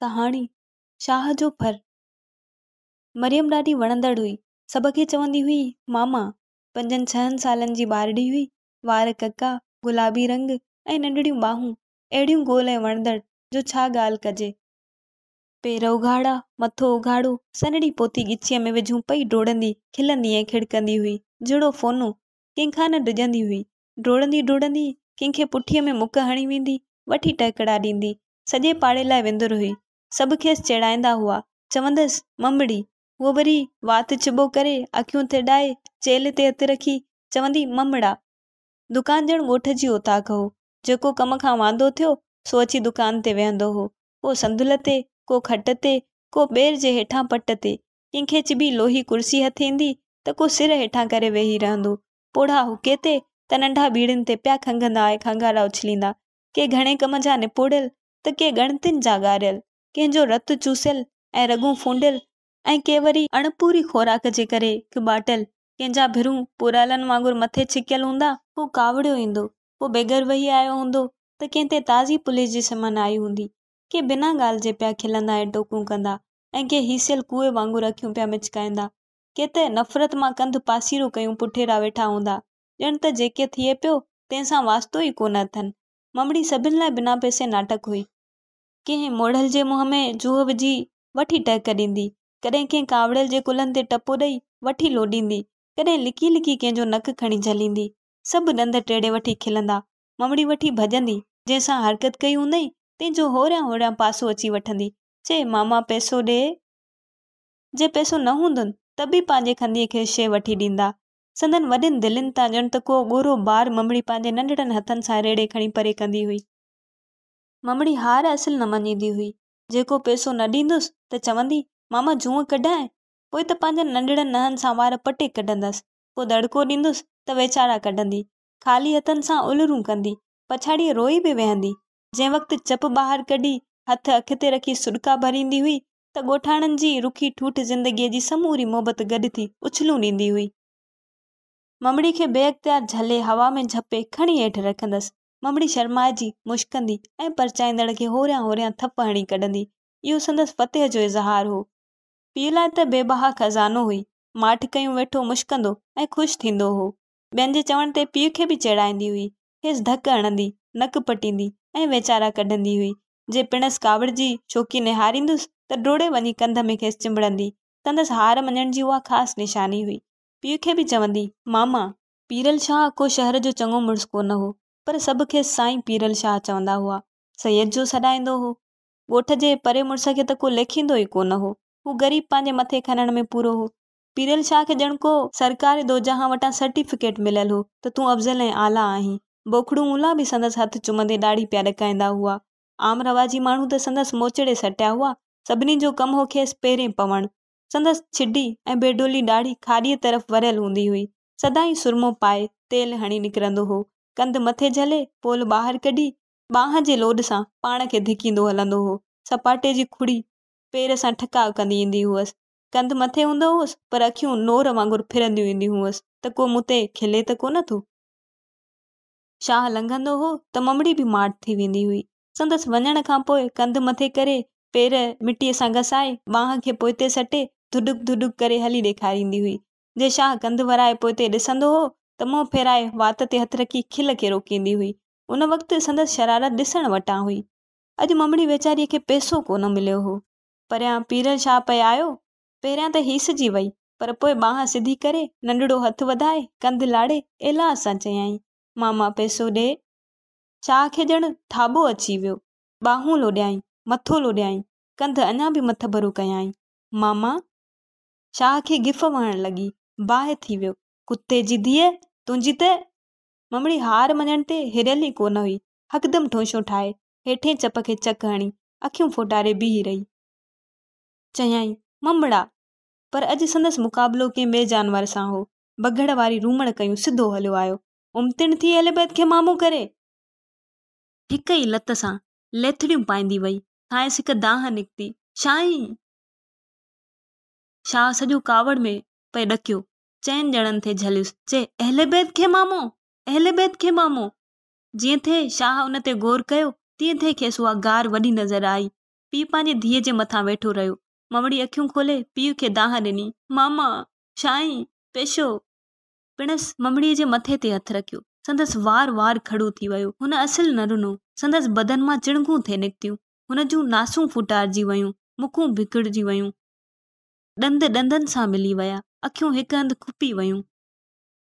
ڪهاڻي شاهه جو ڦر مريم ڏاڍي وڻندڙ هئي. سڀ کي چوندي هئي ماما. پنجن ڇهن سالن جي ٻارڙي هئي. وار ڪڪا، گلابي رنگ ۽ ننڍڙيون ٻانهون اهڙيون گول ۽ وڻندڙ جو ڇا ڳالهه ڪجي. پير اگهاڙا، مٿو اگهاڙو، سنهڙي پوتي ڳچيء ۾ وجهون پئي ڊوڙندي، کلندي ۽ کڙڪندي هئي. جهڙو فونو، ڪنهن کان نه ڊڄندي هئي. ڊوڙندي ڊوڙندي ڪنهن کي پٺيء ۾ مڪ هڻي ويندي، وٺي ٽهڪڙا ڏيندي، سڄي پاڙي لاء وندر هئي. سڀ کيس چيڙائيندا هئا، چوندس، ممڙي! هوء وري وات چٻو ڪري، اکيون ترڏائي، چيلهه تي هٿ رکي، چوندي، ممڙا! دڪان ڄڻ ڳوٺ جي اوطاق هو. جيڪو ڪم کان واندو ٿيو، سو اچي دڪان تي ويهندو هو. ڪو صندل تي، ڪو کٽ تي، ڪو ٻير جي هيٺان پٽ تي. ڪنهن کي چٻي لوهي ڪرسي هٿ ايندي ته ڪو سر هيٺان ڪري ويهي رهندو. پوڙها حقي تي ته ننڍا ٻيڙين تي پيا کنگهندا ۽ کنگهاڙا اڇليندا، ڪي گهڻي ڪم جا نپوڙيل ته ڪي ڳڻتين جا ڳاريل، ڪنهن جو رت چوسيل ۽ رڳون ڦونڊيل ۽ ڪي وري اڻپوري خوراڪ جي ڪري ڪٻاٽيل، ڪنهن جا ڀرون پورالن وانگر مٿي ڇڪيل هوندا. ڪو ڪاوڙيو ايندو، ڪو بيگر وهي آيو هوندو ته ڪنهن تي تازي پوليس جي سمن آئي هوندي، ڪي بنا ڳالهه جي پيا کلندا ۽ ٽوڪون ڪندا ۽ ڪي هيسيل ڪوئي وانگر اکيون پيا مچڪائيندا، ڪي ته نفرت مان ڪنڌ پاسيرو ڪيون پٺيرا ويٺا هوندا، ڄڻ ته جيڪي ٿئي پيو، تنهن سان واسطو ئي ڪونه اٿن. ممڙي سڀن لاء بنا پئسي ناٽڪ هئي. ڪنهن موڙهل جي منهن ۾ جوهه وجهي وٺي ٽهڪ ڏيندي، ڪڏهن ڪنهن ڪاوڙيل جي ڪلهن تي ٽپو ڏئي وٺي لوڏيندي، ڪڏهن لڪي لڪي ڪنهن جو نڪ کڻي جهليندي. سڀ ڏند ٽيڙي وٺي کلندا، ممڙي وٺي ڀڄندي، جنهن سان حرڪت ڪئي هوندئين، تنهن جو هوريان هوريان پاسو اچي وٺندي، چئي، ماما پئسو ڏي! جي پئسو نه هوندن ته به پنهنجي کنديء کي شيء وٺي ڏيندا. سندن وڏين دلين تان ڄڻ ته ڪو ڳورو بار ممڙي پنهنجي ننڍڙن هٿن سان ريڙهي کڻي پري ڪندي هئي. ممڙي هار اصل نه مڃيندي هئي. جيڪو پئسو نه ڏيندس ته چوندي، ماما جونء ڪڍانء. پوء ته پنهنجن ننڍڙن ننهن سان وار پٽي ڪڍندس. ڪو دڙڪو ڏيندس ته ويچارا ڪڍندي. خالي هٿن سان الرون ڪندي. پڇاڙيء روئي به ويهندي. جنهن وقت چپ ٻاهر ڪڍي، هٿ اک تي رکي سڏڪا ڀريندي هئي، ته ڳوٺاڻن جي رکي ٺوٺ زندگيء جي سموري محبت گڏ ٿي اڇلون ڏيندي هئي. ممڙي کي بي اختيار جهلي هوا ۾ جهپي کڻي هيٺ رکندس. ممڙي شرمائجي مشڪندي ۽ پرچائيندڙ کي هوريان هوريان ٿڦ هڻي ڪڍندي. اهو سندس فتح جو اظهار هو. پيء لاء ته بي بها خزانو هئي. ماٺ ڪيون ويٺو مشڪندو ۽ خوش ٿيندو هو. ٻين جي چوڻ تي پيء کي به چيڙائيندي هئي. کيس ڌڪ هڻندي، نڪ پٽيندي ۽ ويچارا ڪڍندي هئي. جي پڻس ڪاوڙ جي شوقي نهاريندس ته ڊوڙي وڃي ڪنڌ ۾ کيس چنبڙندي. سندس هار مڃڻ جي اها خاص نشاني هئي. پيء کي به چوندي، ماما! پيرل شاهه ڪو شهر جو چڱو مڙس ڪو نه هو، پر سڀ کيس سائين پيرل شاهه چوندا هئا. سيد جو سڏائيندو هو. ڳوٺ جي پري مڙس کي ته ڪو ليکيندو ئي ڪو نه هو. هو غريب پنهنجي مٿي کنڻ ۾ پورو هو. پيرل شاهه کي ڄڻ ڪو سرڪاري دوجهان وٽان سرٽيفڪيٽ مليل هو ته تون افضل ۽ اعليٰ آهين. بوکڙو مولان به سندس هٿ چمندي ڏاڙهي پيا ڏڪائيندا هئا. عام رواجي ماڻهو ته سندس موچڙي سٽيا هئا. سڀني جو ڪم هو کيس پيرين پوڻ. سندس ڇڊي ۽ بي ڊولي ڏاڙهي کاڏيء طرف وريل هوندي هئي. سدائين سرمو پائي، تيل هڻي نڪرندو هو. ڪنڌ مٿي جهلي، پول ٻاهر ڪڍي، ٻانهن جي لوڏ سان پاڻ کي ڌڪيندو هلندو هو. سپاٽي جي کڙي پير سان ٺڪاء ڪندي ايندي هئس. ڪنڌ مٿي هوندو هوس پر اکيون نور وانگر ڦرنديون اينديون هئس ته ڪو مون تي کلي ته ڪونه ٿو. شاهه لنگهندو هو ته ممڙي به ماٺ ٿي ويندي هئي. سندس وڃڻ کان پوء ڪنڌ مٿي ڪري، پير مٽيء سان گسائي، ٻانهن کي پوئتي سٽي، ڌڏڪ ڌڏڪ ڪري هلي ڏيکاريندي هئي. جي شاهه ڪنڌ ورائي پوئتي ڏسندو هو ته منهن ڦيرائي وات تي هٿ رکي کل کي روڪيندي هئي. ان وقت سندس شرارت ڏسڻ وٽان هئي. اڄ ممڙي ويچاريء کي پئسو ڪونه مليو هو. پريان پيرل شاهه پئي آيو. پهريان ته هيسجي وئي، پر پوء ٻانهن سڌي ڪري، ننڍڙو هٿ وڌائي، ڪنڌ لاڙي، ايلاز سان چيائين، ماما پئسو ڏي. شاهه کي ڄڻ ٿاٻو اچي ويو. ٻانهون لوڏيائين، مٿو لوڏيائين، ڪنڌ اڃا به مٿڀرو ڪيائين، ماما! شاهه کي گف وهڻ لڳي، باهه ٿي ويو، ڪتي جي ڌيء، تنهنجي ته. ممڙي هار مڃڻ تي هريل ئي ڪونه هئي، هڪدم ٺونشون ٺاهي، هيٺين چپ کي چڪ هڻي، اکيون ڦوٽاري بيهي رهي. چيائين، ممڙا! پر اڄ سندس مقابلو ڪنهن ٻئي جانور سان هو. بگهڙ واري رومڻ ڪيون سڌو هليو آيو. امتڻ ٿي ايليبيٿ کي مامو ڪري! هڪ ئي لت سان ليٿڙيون پائيندي وئي. کانئس هڪ دانهن نڪتي، شاهين! شاهه سڄو ڪاوڙ ۾ پئي ڏڪيو. چئن ڄڻن ٿي جهليس، چي، ايليبيٿ کي مامو! ايليبيٿ کي مامو! جئين ٿي شاهه ان تي غور ڪيو، تئين ٿي کيس اها گار وڏي نظر آئي. پيء پنهنجي ڌيء جي مٿان ويٺو رهيو. مئوڙي اکيون کولي پيء کي دانهن ڏني، ماما! شاهين! پيشو! پڻس مئوڙيء جي مٿي تي هٿ رکيو. سندس وار وار کڙو ٿي ويو. هن اصل نه رنو. سندس بدن مان چڻگون ٿي نڪتيون. هن جون ناسون ڦوٽارجي ويون. مکون ڀڪڙجي ويون. ڏند ڏندن سان ملي ويا. اکيون هڪ هنڌ کپي ويون.